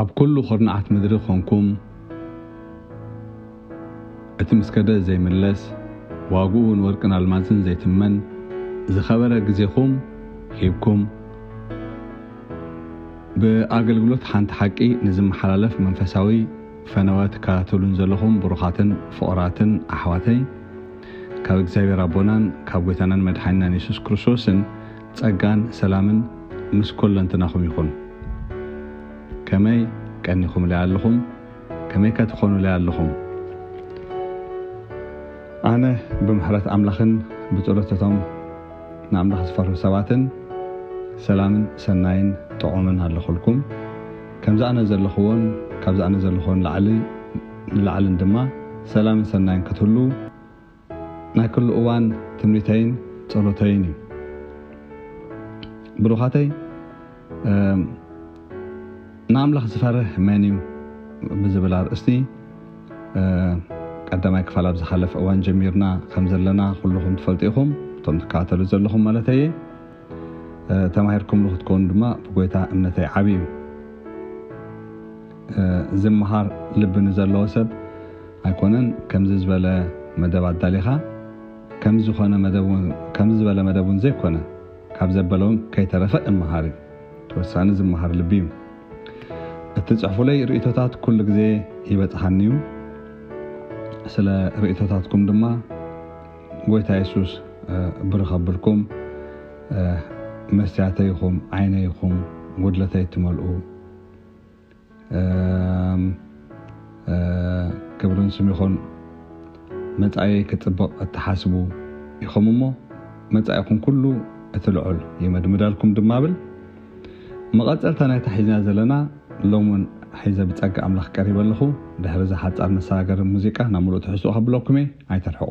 ኣብ ኩሉ ኩርናዓት ምድሪ ኾንኩም እቲ ምስ ከደ ዘይምለስ ዋግኡ ንወርቅን ኣልማዝን ዘይትመን ዝኸበረ ግዜኹም ሂብኩም ብኣገልግሎት ሓንቲ ሓቂ ንዝመሓላለፍ መንፈሳዊ ፈነወ ትከታተሉን ዘለኹም ብሩኻትን ፍቑራትን ኣሕዋተይ ካብ እግዚኣብሔር ኣቦናን ካብ ጎይታናን መድሓኒናን የሱስ ክርስቶስን ጸጋን ሰላምን ምስ ኮለንትናኹም ይኹን። ከመይ ቀኒኹምለይ ኣለኹም? ከመይከ ትኾኑለይ ኣለኹም? ኣነ ብምሕረት ኣምላኽን ብጸሎት እቶም ንኣምላኽ ዝፈርሁ ሰባትን ሰላምን ሰናይን ጥዑምን ኣለኹልኩም። ከምዚ ኣነ ዘለኹዎን ካብዚ ኣነ ዘለኹዎን ላዕሊ ንላዕልን ድማ ሰላምን ሰናይን ክትህሉ ናይ ክሉ እዋን ትምኒተይን ጸሎተይን እዩ ብሩኻተይ ንኣምላኽ ዝፈርህ መን እዩ ብዝብል ኣርእስቲ ቀዳማይ ክፋል ኣብ ዝሓለፈ እዋን ጀሚርና ከም ዘለና ኩልኹም ትፈልጡ ኢኹም እቶም ትከታተሉ ዘለኹም ማለት እየ ተማሂርኩምሉ ክትከውኑ ድማ ብጎይታ እምነተይ ዓብዩ ዝመሃር ልቢ ንዘለዎ ሰብ ኣይኮነን ከምዚ ዝበለ መደብ ኣዳሊኻ ከምዚ ዝኾነ መደብ ውን ከምዚ ዝበለ መደብ ውን ዘይኮነ ካብ ዘበለ ውን ከይተረፈ እመሃር እዩ ተወሳኒ ዝመሃር ልቢ እዩ እትጽሕፉለይ ርእቶታት ኩሉ ግዜ ይበጽሓኒ እዩ ስለ ርእቶታትኩም ድማ ጎይታ የሱስ ብሩኽ ኣብልኩም መስትያተይ ኹም ዓይነይ ኹም ጉድለተይ እትመልኡ ክብርን ስም ይኹን መጻኢ ክጽብቕ እትሓስቡ ኢኹም እሞ መጻኢኹም ኩሉ እቲ ልዑል ይመድምዳልኩም ድማ ብል መቐጸልታ ናይታ ሒዝና ዘለና ሎም እውን ሒዘ ብጸጋ ኣምላኽ ቀሪበ ኣለኹ ድሕሪ እዚ ሓጻር መሰጋገሪ ሙዚቃ ናብ ምሉእ ትሕዝትኡ ከብለኩም እየ ኣይተርሕቑ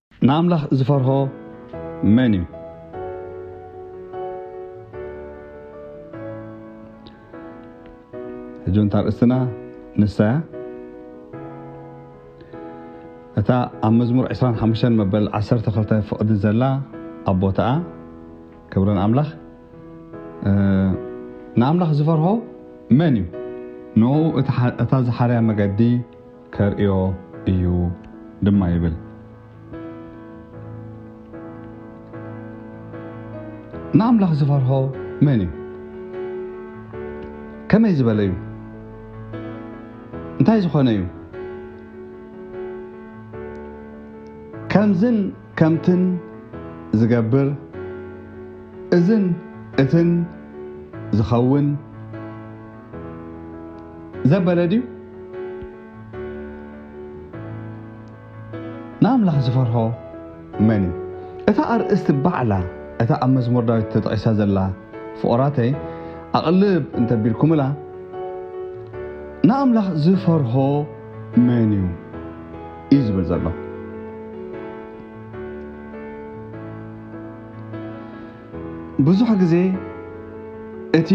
ንኣምላኽ ዚፈርሆ መን እዩ? ሕጂ እውን እታ ኣርእስትና ንሳ እያ። እታ ኣብ መዝሙር 25 መበል 12 ፍቕዲ ዘላ ኣብ ቦታኣ ክብሪ ንኣምላኽ ንኣምላኽ ዝፈርሆ መን እዩ ንኡ እታ ዝሓርያ መገዲ ከርእዮ እዩ ድማ ይብል። ንኣምላኽ ዝፈርሆ መን እዩ? ከመይ ዝበለ እዩ? እንታይ ዝኾነ እዩ? ከምዝን ከምትን ዝገብር እዝን እትን ዝኸውን ዘበለ ድዩ ንኣምላኽ ዝፈርሆ መን እዩ እታ ኣርእስቲ ባዕላ እታ ኣብ መዝሙር ዳዊት ተጠቂሳ ዘላ ፍቑራተይ ኣቕልብ እንተቢልኩምላ ንኣምላኽ ዝፈርሆ መን እዩ እዩ ዝብል ዘሎ ብዙሕ ግዜ እቲ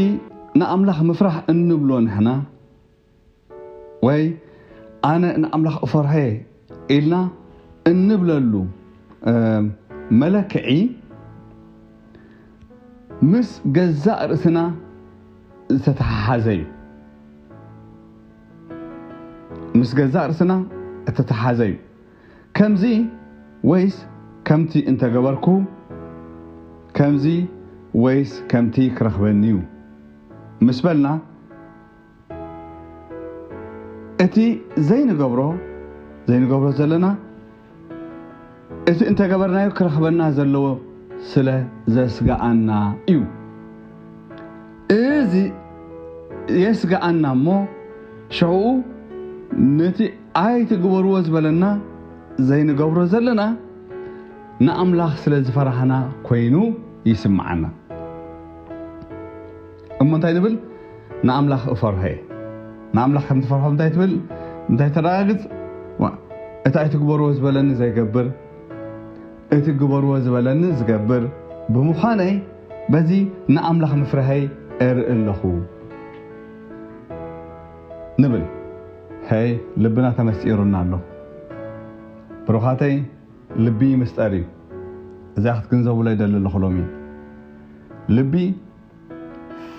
ንኣምላኽ ምፍራህ እንብሎ ንሕና ወይ ኣነ ንኣምላኽ እፈርሖ'የ ኢልና እንብለሉ መለክዒ ምስ ገዛእ ርእስና ዝተተሓሓዘ እዩ። ምስ ገዛእ ርእስና እተተሓሓዘ እዩ። ከምዚ ወይስ ከምቲ እንተገበርኩ ከምዚ ወይስ ከምቲ ክረኽበኒ'ዩ ምስ በልና እቲ ዘይንገብሮ ዘይንገብሮ ዘለና እቲ እንተገበርናዮ ክረኽበና ዘለዎ ስለ ዘስጋኣና እዩ እዚ የስጋኣና እሞ ሽዕኡ ነቲ ኣይትግበርዎ ዝበለና ዘይንገብሮ ዘለና ንኣምላኽ ስለ ዝፈራህና ኮይኑ ይስምዓና እሞ እንታይ ንብል ንኣምላኽ እፈርሆ እየ ንኣምላኽ ከም ትፈርሖ እንታይ ትብል እንታይ ተረጋግጽ እቲ ኣይትግበርዎ ዝበለኒ ዘይገብር እቲ ግበርዎ ዝበለኒ ዝገብር ብምዃነይ በዚ ንኣምላኽ ምፍርሀይ እርኢ ኣለኹ ንብል ሀይ ልብና ተመስጢሩና ኣሎ ብሩኻተይ ልቢ ይምስጠር እዩ እዚኣ ክትግንዘቡለይ ደሊ ኣለኹ ሎሚ ልቢ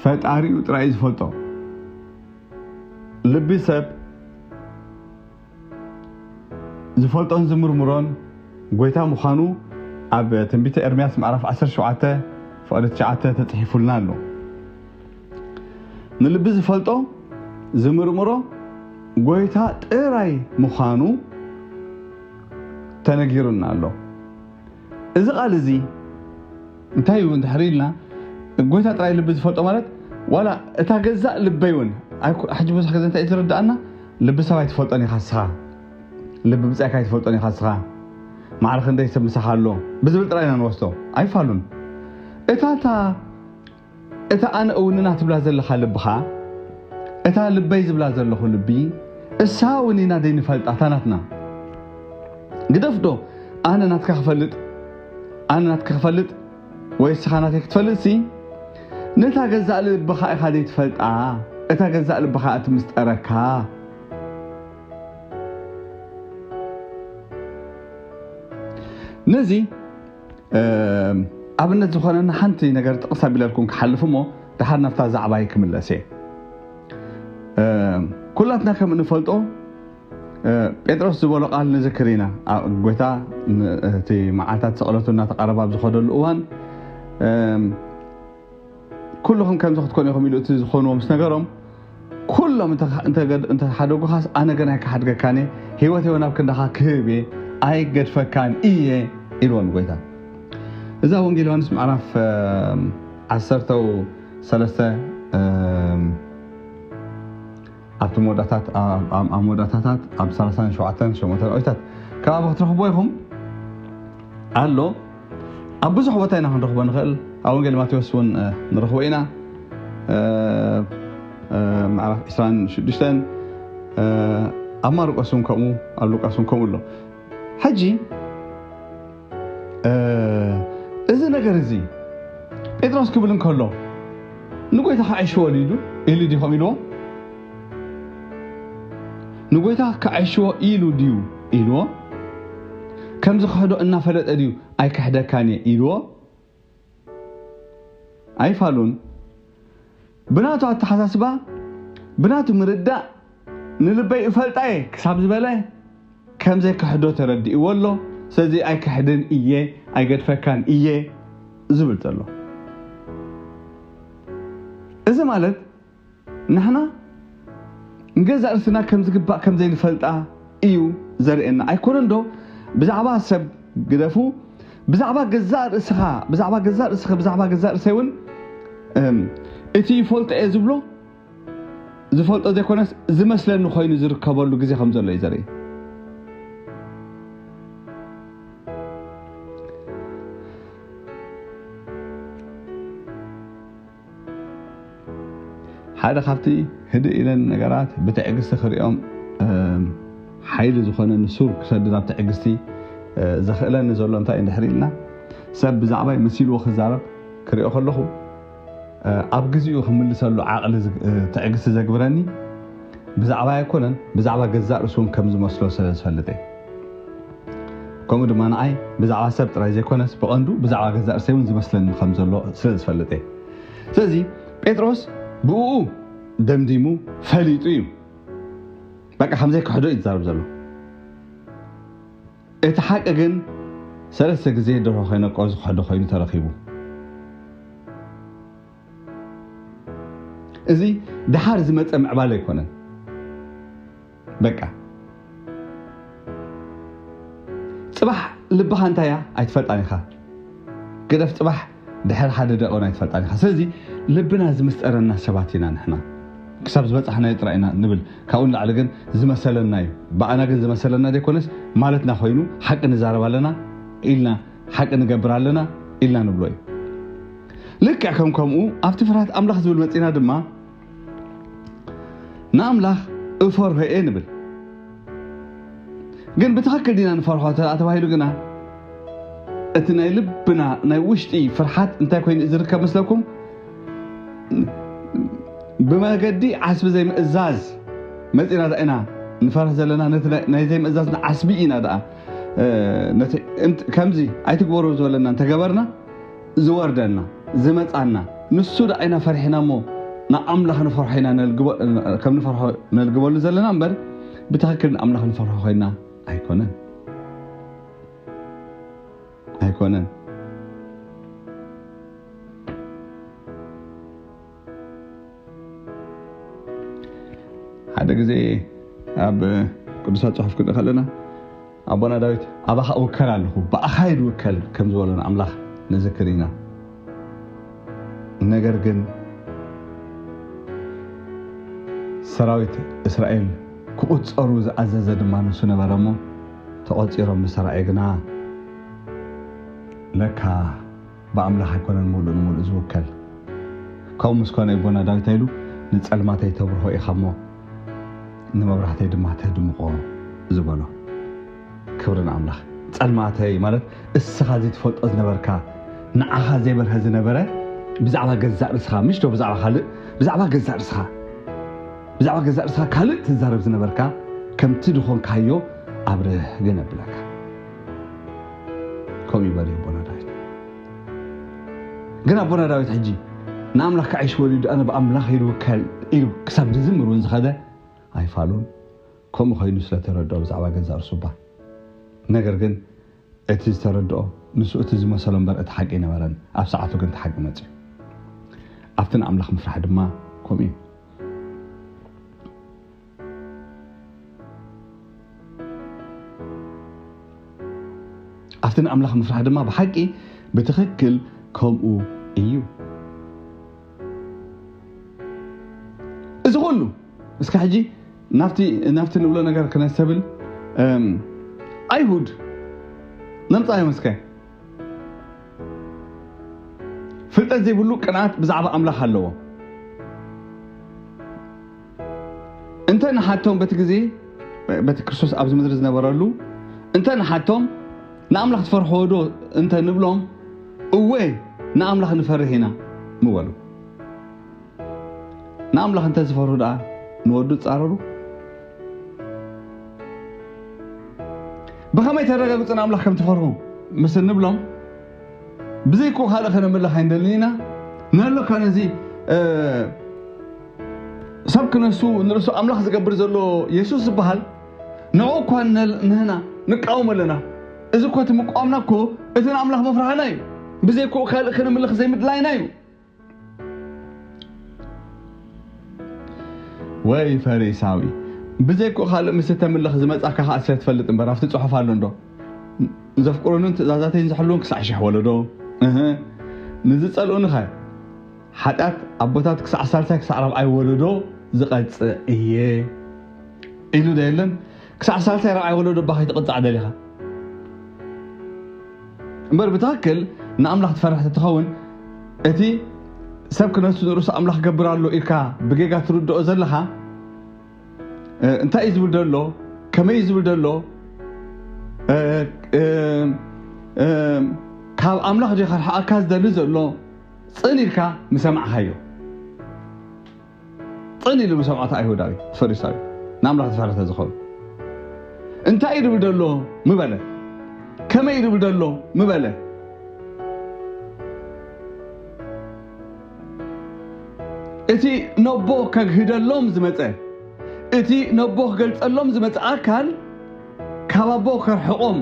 ፈጣሪኡ ጥራይ ዝፈልጦ ልቢ ሰብ ዝፈልጦን ዝምርምሮን ጎይታ ምዃኑ ኣብ ትንቢተ ኤርምያስ ምዕራፍ ዓሰርተ ሸውዓተ ፍቕዲ ትሽዓተ ተጽሒፉልና ኣሎ። ንልቢ ዝፈልጦ ዝምርምሮ ጎይታ ጥራይ ምዃኑ ተነጊሩና ኣሎ። እዚ ቓል እዚ እንታይ እዩ እንድሕሪ ኢልና ጎይታ ጥራይ ልቢ ዝፈልጦ ማለት ዋላ እታ ገዛእ ልበይ እውን ሕጂ ብዙሕ ግዜ እንታይ እዩ ዝርዳእና ልቢ ሰብ ኣይትፈልጦን ኢኻ ንስኻ ልቢ ብጻይካ ኣይትፈልጦን ኢኻ ንስኻ ማዕረ ክንደይ ሰብ ምሳኻ ኣሎ ብዝብል ጥራይ ኢና ንወስዶ ኣይፋሉን እታ እታ እታ ኣነ እውንና ትብላ ዘለኻ ልብኻ እታ ልበይ ዝብላ ዘለኹ ልቢ እሳ እውን ኢና ደይንፈልጣ እታ ናትና ግደፍ ዶ ኣነ ናትካ ክፈልጥ ኣነ ናትካ ክፈልጥ ወይ እስኻ ናተይ ክትፈልጥሲ ነታ ገዛእ ልብኻ ኢኻ ዘይትፈልጣ እታ ገዛእ ልብኻ እቲ ምስጠረካ ነዚ ኣብነት ዝኾነና ሓንቲ ነገር ጥቕስ ኣቢለልኩም ክሓልፍ እሞ ድሓር ናብታ ዛዕባይ ክምለስ እየ ኩላትና ከም እንፈልጦ ጴጥሮስ ዝበሎ ቃል ንዝክር ኢና ጎይታ እቲ መዓልታት ስቕለቱ እናተቐረባ ኣብ ዝኸደሉ እዋን ኩሉኹም ከምዚ ክትኮኑ ኢኹም ኢሉ እቲ ዝኾንዎ ምስ ነገሮም ኩሎም እንተሓደጉኻስ ኣነ ገና ኣይክሓድገካን እየ ህይወት እውን ኣብ ክንዳኻ ክህብ እየ ኣይገድፈካን እየ ኢልዎ ንጎይታ እዛ ወንጌል ዮሃንስ ምዕራፍ ዓሰርተው ሰለስተ ኣብቲ መወዳእታት ኣብ መወዳእታታት ኣብ ሳልሳን ሸውዓተን ሸሞንተን ኣውዲታት ከባቢ ክትረኽብዎ ኢኹም ኣሎ ኣብ ብዙሕ ቦታ ኢና ክንረኽቦ ንኽእል ኣብ ወንጌል ማቴዎስ እውን ንረኽቦ ኢና ምዕራፍ 26 ኣብ ማርቆስ እውን ከምኡ ኣብ ሉቃስ እውን ከምኡ ኣሎ ሕጂ እዚ ነገር እዚ ጴጥሮስ ክብል እንከሎ ንጎይታ ክዐሽዎ ኢሉ ኢሉ ድዩ ከም ኢልዎ ንጎይታ ክዐሽዎ ኢሉ ድዩ ኢልዎ ከምዚ ክሕዶ እናፈለጠ ድዩ ኣይክሕደካን እየ ኢልዎ ኣይፋሉን ብናቱ ኣተሓሳስባ ብናቱ ምርዳእ ንልበይ እፈልጣ እየ ክሳብ ዝበለ ከም ዘይክሕዶ ተረዲእዎ ኣሎ ስለዚ ኣይክሕድን እየ ኣይገድፈካን እየ ዝብል ዘሎ እዚ ማለት ንሕና ንገዛእ ርእስና ከም ዝግባእ ከም ዘይንፈልጣ እዩ ዘርእየና። ኣይኮነን ዶ ብዛዕባ ሰብ ግደፉ ብዛዕባ ገዛእ ርእስኻ ብዛዕባ ገዛእ ርእስኺ ብዛዕባ ገዛእ ርእሰይ እውን እቲ ይፈልጦ እየ ዝብሎ ዝፈልጦ ዘይኮነስ ዝመስለኒ ኮይኑ ዝርከበሉ ግዜ ከም ዘሎ እዩ ዘርኢ ሓደ ካብቲ ህድእ ኢለን ነገራት ብትዕግስቲ ክሪኦም ሓይሊ ዝኾነኒ ሱር ክሰድድ ኣብ ትዕግስቲ ዘኽእለኒ ዘሎ እንታይ እንድሕሪ ኢልና ሰብ ብዛዕባይ መሲልዎ ክዛረብ ክሪኦ ከለኹ ኣብ ግዜኡ ክምልሰሉ ዓቕሊ ትዕግስቲ ዘግብረኒ ብዛዕባይ ኣይኮነን ብዛዕባ ገዛእ ርእሱን ከም ዝመስሎ ስለ ዝፈልጥ እየ ከምኡ ድማ ንዓይ ብዛዕባ ሰብ ጥራይ ዘይኮነስ ብቐንዱ ብዛዕባ ገዛእ ርእሰይ እውን ዝመስለኒ ከም ዘሎ ስለ ዝፈልጥ እየ። ስለዚ ጴጥሮስ ብእኡ ደምዲሙ ፈሊጡ እዩ በቃ ከም ዘይክሕዶ እዩ ዝዛረብ ዘሎ። እቲ ሓቂ ግን ሰለስተ ግዜ ደርሆ ከይነቆ ዝክሕዶ ኮይኑ ተረኺቡ። እዚ ደሓር ዝመፀ ምዕባለ ኣይኮነን። በቃ ጽባሕ ልብኻ እንታይ እያ ኣይትፈልጣን ኢኻ ግደፍ ጽባሕ ድሕሪ ሓደ ደቂን ኣይትፈልጣን ኢኻ ስለዚ ልብና ዝምስጠረና ሰባት ኢና ንሕና ክሳብ ዝበጻሕናዮ ጥራይ ኢና ንብል ካብኡ ንላዕሊ ግን ዝመሰለና እዩ ብኣና ግን ዝመሰለና ዘይኮነስ ማለትና ኮይኑ ሓቂ ንዛረብ ኣለና ኢልና ሓቂ ንገብር ኣለና ኢልና ንብሎ እዩ ልክዕ ከም ከምኡ ኣብቲ ፍርሃት ኣምላኽ ዝብል መጺና ድማ ንኣምላኽ እፈርሆ እየ ንብል ግን ብትኽክል ዲና ንፈርሖ እንተ ተባሂሉ ግና እቲ ናይ ልብና ናይ ውሽጢ ፍርሓት እንታይ ኮይኑ ዝርከብ መስለኩም ብመገዲ ዓስቢ ዘይምእዛዝ መፂና ዳ ኢና ንፈርህ ዘለና ነቲ ናይ ዘይምእዛዝ ዓስቢ ኢና ደኣ ከምዚ ኣይትግበሩ ዝበለና እንተገበርና ዝወርደና ዝመጻና ንሱ ደኣ ኢና ፈሪሕና እሞ ንኣምላኽ ንፈርሖ ኢና ነልግቦ ከም ንፈርሖ ነልግበሉ ዘለና እምበር ብትኽክል ንኣምላኽ ንፈርሖ ኮይና ኣይኮነን ኣይኮነን ሓደ ግዜ ኣብ ቅዱሳት ጽሑፍ ክንርኢ ከለና ኣቦና ዳዊት ኣባኻ እውከል ኣለኹ ብኣኻ ይድውከል ከም ዝበሎን ኣምላኽ ንዝክር ኢና ነገር ግን ሰራዊት እስራኤል ክቑፀሩ ዝኣዘዘ ድማ ንሱ ነበረ እሞ ተቖፂሮም ምስ ግና ለካ ብኣምላኽ ኣይኮነን ምሉእ ንምሉእ ዝውከል። ከምኡ ምስ ኮነ እዩ ኣቦና ዳዊት ኣይሉ ንጸልማተይ ተብርሆ ኢኻ እሞ ንመብራህተይ ድማ ተድምቆ ዝበሎ። ክብሪ ንኣምላኽ። ጸልማተይ ማለት እስኻ ዘይትፈልጦ ዝነበርካ ንዓኻ ዘይበርሀ ዝነበረ ብዛዕባ ገዛእ ርእስኻ ምሽ ዶ ብዛዕባ ካልእ ብዛዕባ ገዛእ ርእስኻ ብዛዕባ ገዛእ ርእስኻ ካልእ ትዛረብ ዝነበርካ ከምቲ ዝኾንካዮ ኣብርህ ግን ኣብለካ ከምኡ ይበል ኣቦና ዳዊት ግን ኣቦና ዳዊት ሕጂ ንኣምላኽ ክዓይሽ ወሊዱ ኣነ ብኣምላኽ ይልውከል ኢሉ ክሳብ ዝዝምር እውን ዝኸደ ኣይፋሉን ከምኡ ኮይኑ ስለተረድኦ ብዛዕባ ገዛ እርሱ እባ ነገር ግን እቲ ዝተረድኦ ንሱ እቲ ዝመሰሎ እምበር እቲ ሓቂ ነበረን ኣብ ሰዓቱ ግን እቲ ሓቂ መፅዩ ኣብቲ ንኣምላኽ ምፍራሕ ድማ ከምኡ እዩ ኣብቲ ንኣምላኽ ምፍራሕ ድማ ብሓቂ ብትኽክል ከምኡ እዩ እዚ ኩሉ እስከ ሕጂ ናብቲ ንብሎ ነገር ክነሰብል ኣይሁድ ነምፃዮም እስከ ፍልጠት ዘይብሉ ቅንኣት ብዛዕባ ኣምላኽ ኣለዎ እንተ ንሓቶም በቲ ግዜ በቲ ክርስቶስ ኣብዚ ምድሪ ዝነበረሉ እንተ ንሓቶም ንኣምላኽ ትፈርሕዎዶ እንተ ንብሎም እወ ንኣምላኽ ንፈርህ ኢና ምበሉ ንኣምላኽ እንተ ዝፈርሁ ደኣ ንወዱ ጻረሩ ብኸመይ ተረጋግጹ ንኣምላኽ ከም ትፈርሁ ምስ እንብሎም ብዘይኩ ካልእ ከነምልኽ ኣይንደልን ኢና ንህለካ ነዚ ሰብ ክነሱ ንርእሱ ኣምላኽ ዝገብር ዘሎ የሱስ ዝበሃል ንዕኡ እኳ ንህና ንቃወም ኣለና። እዚ እኮ እቲ ምቋምና እኮ እቲ ንኣምላኽ ምፍራህና እዩ። ብዘይክኡ ካልእ ክንምልኽ ዘይምድላይና እዩ። ወይ ፈሪሳዊ ብዘይክኡ ካልእ ምስ እተምልኽ ዝመጻካ ከኣ ስለ ትፈልጥ እምበር ኣብቲ ጽሑፍ ኣሎ እንዶ ዘፍቅሩንን ትእዛዛተይን ዝሕልውን ክሳዕ ሽሕ ወለዶ ንዝጸልኡኒ ኸ ሓጢኣት ኣቦታት ክሳዕ ሳልሳይ ክሳዕ ራብዓይ ወለዶ ዝቐጽዕ እየ ኢሉ ዶ የለን? ክሳዕ ሳልሳይ ራብዓይ ወለዶ እባ ከይትቕጻዕ ደሊኻ እምበር ብትኽክል ንኣምላኽ ትፈርሕ ተትኸውን እቲ ሰብ ክነሱ ንርእሱ ኣምላኽ ገብር ኣሎ ኢልካ ብጌጋ ትርድኦ ዘለኻ እንታይ እዩ ዝብል ዘሎ ከመይ እዩ ዝብል ዘሎ ካብ ኣምላኽ ዲኻ ርሓቐካ ዝደሊ ዘሎ ጽን ኢልካ ምሰማዕካዮ ጽን ኢሉ ምሰምዖ እቲ ኣይሁዳዊ ፈሪሳዊ ንኣምላኽ ዝፈረተ ዝኸውን እንታይ ይብል ደሎ ምበለ ከመይ ይብል ደሎ ምበለ እቲ ነቦ ከግህደሎም ዝመፀ እቲ ነቦ ክገልፀሎም ዝመፀ ኣካል ካብ ኣቦ ከርሕቆም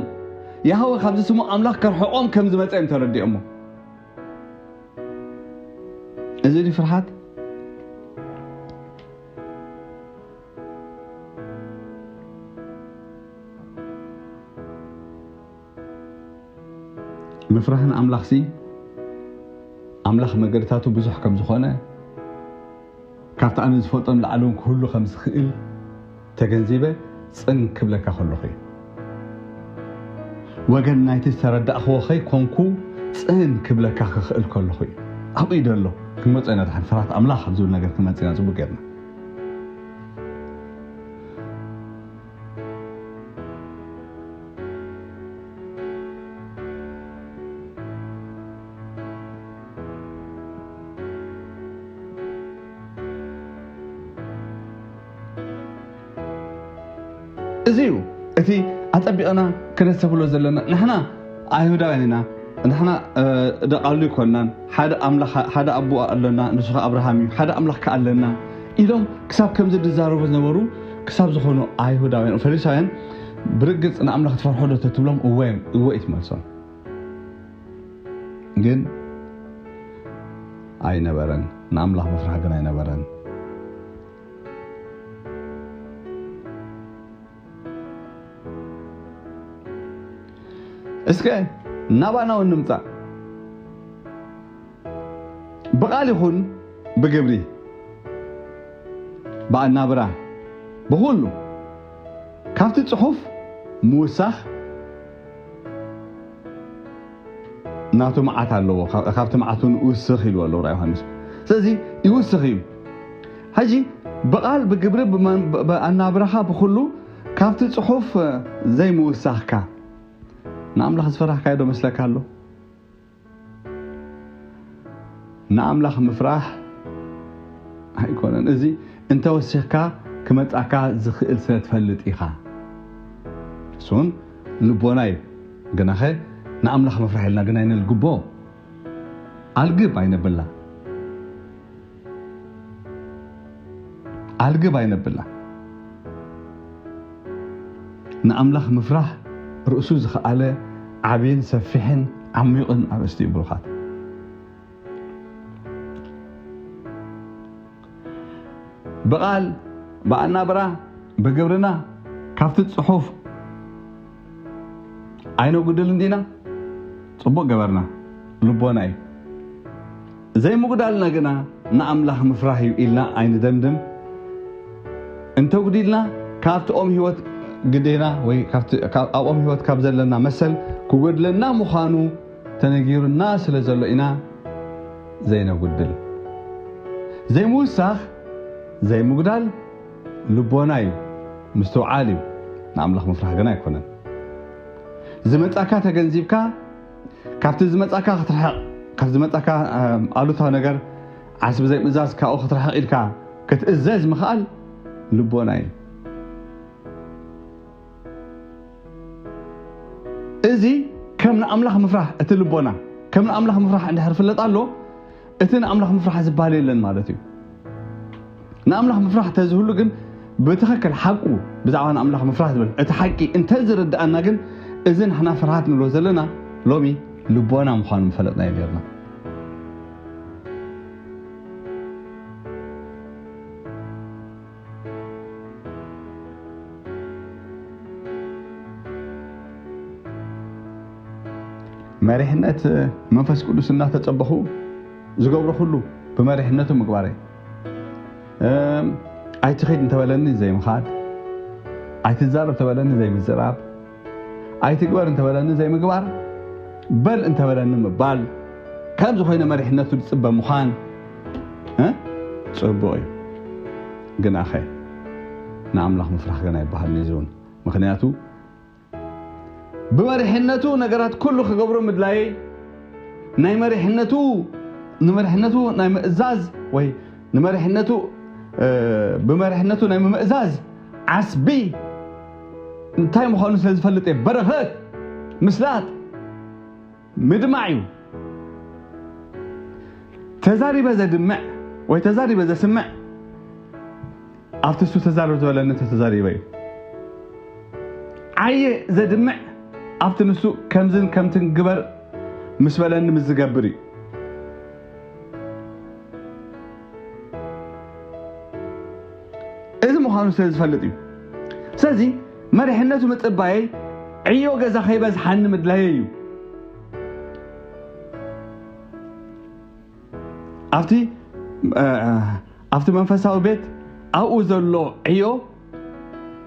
ያህወ ካብዚ ስሙ ኣምላኽ ከርሕቆም ከም ዝመፀ እዮም ተረዲኦሞ እዚ ድዩ ፍርሓት? ምፍራህ ንኣምላኽሲ ኣምላኽ መገድታቱ ብዙሕ ከም ዝኾነ ካብቲ ኣነ ዝፈልጦ ንላዕሊ እውን ክህሉ ከም ዝኽእል ተገንዚበ ጽን ክብለካ ከለኹ እዩ። ወገን ናይቲ ዝተረዳእክዎ ከይኮንኩ ጽን ክብለካ ክኽእል ከለኹ እዩ። ኣብኡ እዩ ዘሎ። ክንመጾ ኢና ድሓን ፍርሃት ኣምላኽ ኣብ ዝብል ነገር ክንመጽእ ኢና ጽቡቕ ጌርና። እዚ እዩ እቲ ኣጸቢቕና ክነሰብሎ ዘለና ንሕና ኣይሁዳውያን ኢና ንሕና ደቃሉ ይኮናን ሓደ ኣምላኽ ሓደ ኣቦ ኣለና ንሱ ከዓ ኣብርሃም እዩ ሓደ ኣምላኽ ከዓ ኣለና ኢሎም ክሳብ ከምዚ ዝዛረቡ ዝነበሩ ክሳብ ዝኾኑ ኣይሁዳውያን ፈሪሳውያን ብርግፅ ንኣምላኽ ትፈርሖ ዶ ተትብሎም እወ እወ እዩ ትመልሶም ግን ኣይነበረን ንኣምላኽ ምፍራሕ ግን ኣይነበረን እስከ ናባና እውን ንምፃእ ብቃል ይኹን ብግብሪ ብኣናብራ ብኩሉ ካብቲ ፅሑፍ ምውሳኽ ናቱ መዓት ኣለዎ ካብቲ መዓቱ ንውስኽ ኢልዎ ኣሎ ራ ዮሃንስ ስለዚ ይውስኽ እዩ ሕጂ ብቓል ብግብሪ ኣናብራኻ ብኩሉ ካብቲ ፅሑፍ ዘይምውሳኽካ ንኣምላኽ ዝፈራህካዮ ዶ መስለካ ኣሎ ንኣምላኽ ምፍራሕ ኣይኮነን እዚ እንተወሲኽካ ክመጻካ ዝኽእል ስለ ትፈልጥ ኢኻ እሱን ልቦና እዩ ግናኸ ንኣምላኽ ምፍራሕ ኢልና ግን ኣይንልግቦ ኣልግብ ኣይነብላ ኣልግብ ኣይነብላ ንኣምላኽ ምፍራህ ርእሱ ዝኸኣለ ዓብን ሰፊሕን ዓሚቕን ኣርእስቲ እዩ ብሩኻት ብቓል ብኣናብራ ብግብርና ካብቲ ጽሑፍ ኣይነጉድል እንዲና ጽቡቅ ገበርና ልቦና እዩ ዘይምጉዳልና ግና ንኣምላኽ ምፍራህ እዩ ኢልና ኣይንደምድም እንተጉዲልና ካብቲ ኦም ህይወት ግዴና ወይ ኣብኦም ህይወት ካብ ዘለና መሰል ክጎድለና ምዃኑ ተነጊሩና ስለ ዘሎ ኢና ዘይነጉድል ዘይምውሳኽ ዘይምጉዳል ልቦና እዩ ምስትውዓል እዩ ንኣምላኽ ምፍራሕ ግን ኣይኮነን ዝመጻካ ተገንዚብካ ካብቲ ዝመጻካ ክትርሕቕ ካብ ዝመጻካ ኣሉታዊ ነገር ዓስቢ ዘይምእዛዝ ካብኡ ክትርሕቕ ኢልካ ክትእዘዝ ምኽኣል ልቦና እዩ እዚ ከም ንኣምላኽ ምፍራሕ እቲ ልቦና ከም ንኣምላኽ ምፍራሕ እንድሕር ፍለጥ ኣሎ እቲ ንኣምላኽ ምፍራሕ ዝበሃል የለን ማለት እዩ። ንኣምላኽ ምፍራሕ ተዝህሉ ግን ብትኸክል ሓቁ ብዛዕባ ንኣምላኽ ምፍራሕ ዝብል እቲ ሓቂ እንተዝርድኣና ግን እዚ ንሕና ፍርሃት ንብሎ ዘለና ሎሚ ልቦና ምዃኑ ምፈለጥናዮ ነርና። መሪሕነት መንፈስ ቅዱስ እናተፀበኹ ዝገብሮ ኩሉ ብመሪሕነቱ ምግባረ ኣይትኸይድ እንተበለኒ ዘይምኻድ ኣይትዛረብ ተበለኒ ዘይምዝራብ ኣይትግበር እንተበለኒ ዘይምግባር፣ በል እንተበለኒ ምባል፣ ከምዚ ኮይነ መሪሕነቱ ዝፅበ ምዃን ፅቡቕ እዩ። ግናኸ ንኣምላኽ ምፍራሕ ገና ይበሃልን እዩ ዝውን ምክንያቱ ብመሪሕነቱ ነገራት ኩሉ ክገብሮ ምድላየይ ናይ መሪሕነቱ ንመሪሕነቱ ናይ ምእዛዝ ወይ ንመሪሕነቱ ብመሪሕነቱ ናይ ምምእዛዝ ዓስቢ እንታይ ምዃኑ ስለ ዝፈልጥ እየ በረኸት ምስላጥ ምድማዕ እዩ ተዛሪበ ዘድምዕ ወይ ተዛሪበ ዘስምዕ ኣብቲ እሱ ተዛረብ ዝበለኒ ተተዛሪበ እዩ ዓየ ዘድምዕ ኣብቲ ንሱ ከምዝን ከምትን ግበር ምስ በለኒ ምስ ዝገብር እዩ እዚ ምዃኑ ስለ ዝፈልጥ እዩ ስለዚ መሪሕነቱ ምፅባየይ ዕዮ ገዛ ከይበዝሓኒ ምድላየ እዩ ኣብቲ ኣብቲ መንፈሳዊ ቤት ኣብኡ ዘሎ ዕዮ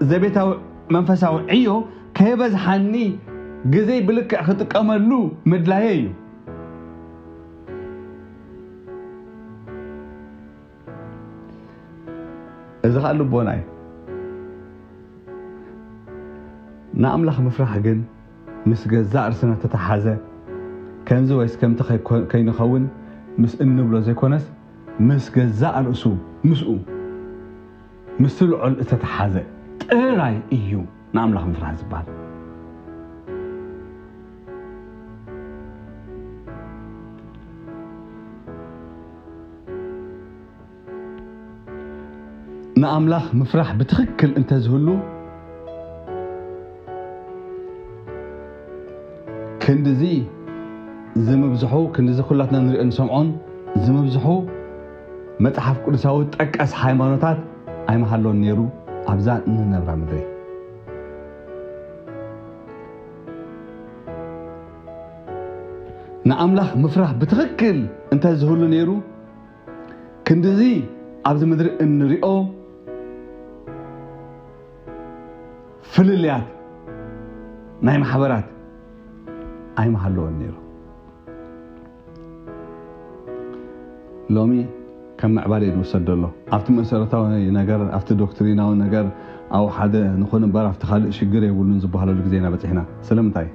ዘቤታዊ መንፈሳዊ ዕዮ ከየበዝሓኒ ግዜይ ብልክዕ ክጥቀመሉ ምድላየ እዩ። እዚ ኸኣ ልቦና እዩ። ንኣምላኽ ምፍራሕ ግን ምስ ገዛእ ርስና እተተሓሓዘ ከምዚ ወይስ ከምቲ ከይንኸውን ምስ እንብሎ ዘይኮነስ ምስ ገዛእ ርእሱ ምስኡ ምስ ስልዖል እተተሓዘ ጥራይ እዩ ንኣምላኽ ምፍራህ ዝበሃል። ንኣምላኽ ምፍራህ ብትኽክል እንተዝህሉ ክንድዚ ዝምብዝሑ ክንድዚ ኩላትና ንርእዮን ንሰምዖን ዝምብዝሑ መጽሓፍ ቅዱሳዊ ጠቀስ ሃይማኖታት ኣይምሃሎን ነይሩ ኣብዛ እንነብራ ምድሪ። ንኣምላኽ ምፍራህ ብትኽክል እንተ ዝህሉ ነይሩ ክንድዚ ኣብዚ ምድሪ እንሪኦ ፍልልያት ናይ ማሕበራት ኣይምሃለወን ነይሩ። ሎሚ ከም ምዕባለ እዩ ዝውሰድ ዘሎ። ኣብቲ መሰረታዊ ነገር፣ ኣብቲ ዶክትሪናዊ ነገር ኣብ ሓደ ንኹን እምበር ኣብቲ ካልእ ሽግር የብሉን ዝበሃለሉ ግዜ ኢና በጺሕና። ስለምንታይ?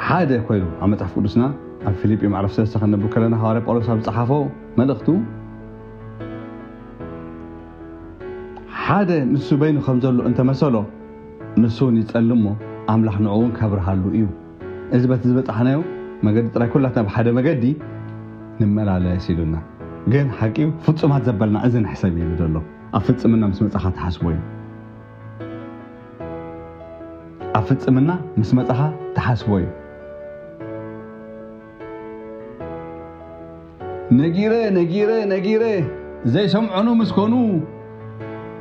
ሓደ ኮይኑ ኣብ መጽሓፍ ቅዱስና ኣብ ፊልጲ ምዕራፍ ሰለስተ ከነብብ ከለና ሃዋርያ ጳውሎስ ኣብ ዝጸሓፎ መልእኽቱ ሓደ ንሱ በይኑ ከም ዘሎ እንተመሰሎ ንሱ እውን ይጸልም እሞ ኣምላኽ ንዕኡ እውን ከብርሃሉ እዩ እዚ በቲ ዝበጻሕናዮ መገዲ ጥራይ ኩላትና ብሓደ መገዲ ንመላለስ ኢሉና። ግን ሓቂዩ ፍጹማት ዘበልና እዚ ንሕሰብ ኢሉ ዘሎ ኣብ ፍጽምና ምስ መጻኻ ትሓስቦ ኢዩ። ኣብ ፍጽምና ምስ መጻኻ ትሓስቦ ኢዩ። ነጊረ ነጊረ ነጊረ ዘይሰምዑኑ ምስ ኮኑ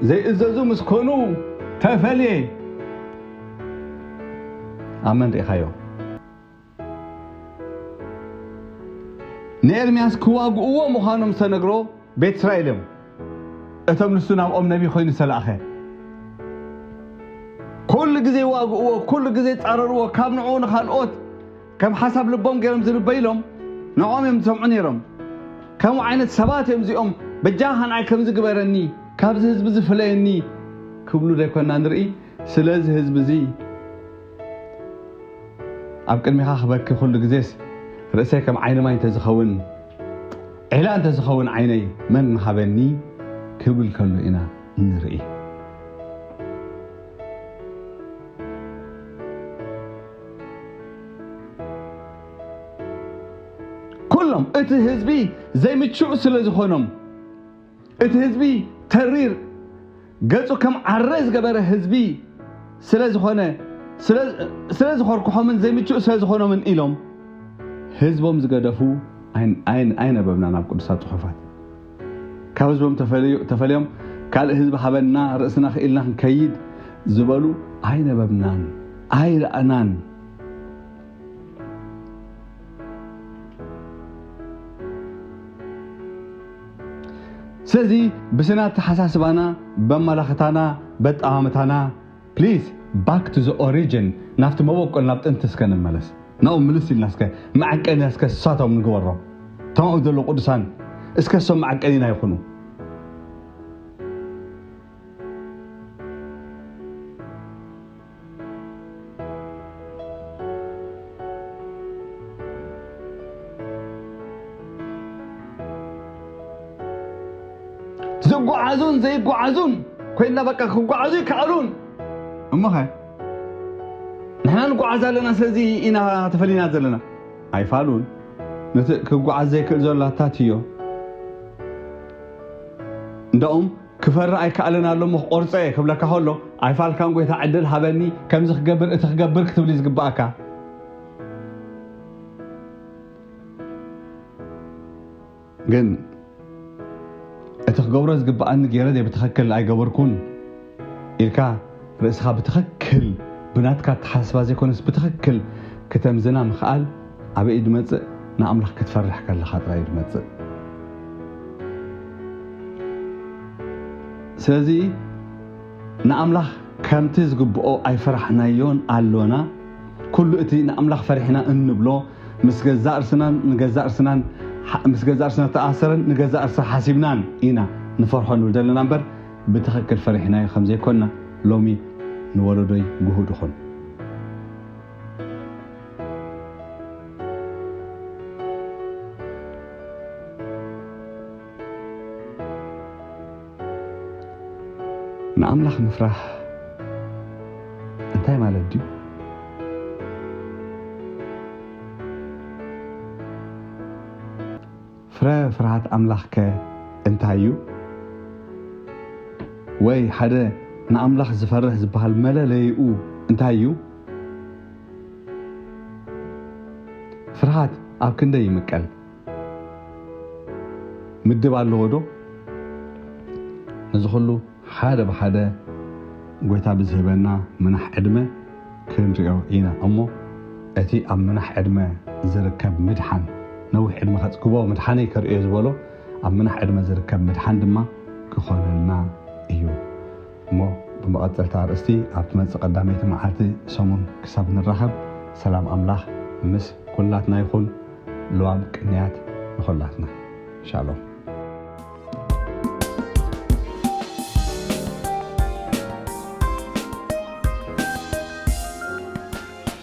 ዘይእዘዙ ምስ ኮኑ ተፈልየ። ኣብ መን ርኢኻዮ? ንኤርምያስ ክዋግእዎ ምዃኖም ዝተነግሮ ቤት እስራኤል እዮም፣ እቶም ንሱ ናብኦም ነቢይ ኮይኑ ዝተላእኸ። ኩሉ ግዜ ዋግእዎ፣ ኩሉ ግዜ ጻረርዎ፣ ካብ ንዕኡ ንኻልኦት ከም ሓሳብ ልቦም ገይሮም ዝርበዩ ኢሎም ንዕኦም እዮም ዝሰምዑ ነይሮም። ከምኡ ዓይነት ሰባት እዮም እዚኦም በጃኻ ንዓይ ከምዚ ግበረኒ፣ ካብዚ ህዝቢ እዚ ፍለየኒ ክብሉ ዶ ኣይኮንና ንርኢ? ስለዚ ህዝቢ እዚ ኣብ ቅድሚኻ ክበኪ ኩሉ ግዜስ ርእሰይ ከም ዓይኒ ማይ እንተዝኸውን ዒላ እንተዝኸውን ዓይነይ መን ምሃበኒ ክብል ከሎ ኢና እንርኢ። ኩሎም እቲ ህዝቢ ዘይምቹእ ስለ ዝኾኖም እቲ ህዝቢ ተሪር ገጹ ከም ዓረ ዝገበረ ህዝቢ ስለ ዝኾነ ስለ ዝኾርኩሖምን ዘይምቹእ ስለ ዝኾኖምን ኢሎም ህዝቦም ዝገደፉ ኣይነበብናን ኣብ ቅዱሳት ጽሑፋት ካብ ህዝቦም ተፈልዮም ካልእ ህዝቢ ሃበና ርእስና ክኢልና ክንከይድ ዝበሉ ኣይነበብናን ኣይረኣናን። ስለዚ ብስነ ኣተሓሳስባና፣ በኣመላኽታና፣ በኣጠማምታና፣ ፕሊስ ባክ ቱ ዘ ኦሪጅን ናብቲ መበቆል ናብ ጥንቲ እስከ ንመለስ ናብኡ ምልስ ኢልና እስከ መዐቀንያ እስከ እሳቶም ንግበሮም እቶም ኣብኡ ዘለዉ ቅዱሳን እስከ እሶም መዐቀኒና ይኹኑ። ዝጓዓዙን ዘይጓዓዙን ኮይና በቃ ክጓዓዙ ይከኣሉን እሞኸ ንሕና ንጓዓዝ ኣለና ስለዚ ኢና ተፈሊና ዘለና ኣይፋሉን ነቲ ክጓዓዝ ዘይክእል ዘሎ ኣታት እዮ እንዳኡም ክፈሪ ኣይከኣልን ኣሎ እሞ ክቆርፀ እየ ክብለካ ከሎ ኣይፋልካን ጎይታ ዕድል ሃበኒ ከምዚ ክገብር እቲ ክገብር ክትብሊ ዝግባእካ ግን እቲ ክገብሮ ዝግብኣኒ ገይረ ዘይብትኸክል ኣይገበርኩን ኢልካ ርእስኻ ብትኸክል ብናትካ ኣተሓሳስባ ዘይኮነስ ብትኸክል ክተምዝና ምኽኣል ኣበይ እዩ ዝመፅእ ንኣምላኽ ክትፈርሕ ከለኻ ጥራይ እዩ ዝመፅእ ስለዚ ንኣምላኽ ከምቲ ዝግብኦ ኣይፈራሕናዮን ኣሎና። ኩሉ እቲ ንኣምላኽ ፈሪሕና እንብሎ ምስ ገዛእ ርስናን ንገዛእ ርስናን ምስ ገዛእ ርስና ዝተኣሰረን ንገዛእ ርሳ ሓሲብናን ኢና ንፈርሖ ንብል ዘለና እምበር ብትኽክል ፈሪሕናዮ ከም ዘይኮና ሎሚ ንወለዶይ ግሁድ ኹን። ንኣምላኽ ምፍራሕ እንታይ ማለት ድዩ? ፍረ ፍርሃት ኣምላኽ ከ እንታይ እዩ? ወይ ሓደ ንኣምላኽ ዝፈርህ ዝበሃል መለለይኡ እንታይ እዩ? ፍርሃት ኣብ ክንደይ ይምቀል? ምድብ ኣለዎ ዶ ነዚ ኩሉ ሓደ ብሓደ ጎይታ ብዝህበና ምናሕ ዕድመ ክንሪኦ ኢና እሞ እቲ ኣብ ምናሕ ዕድመ ዝርከብ ምድሓን ነዊሕ ዕድመ ከጽግቦ ምድሓነይ ከርእዮ ዝበሎ ኣብ ምናሕ ዕድመ ዝርከብ ምድሓን ድማ ክኾነልና እዩ። እሞ ብመቐጸልታ ኣርእስቲ ኣብ ትመጽእ ቀዳመይቲ መዓልቲ ሰሙን ክሳብ ንራኸብ ሰላም ኣምላኽ ምስ ኩላትና ይኹን ልዋም ቅንያት ንኹላትና ሻሎም።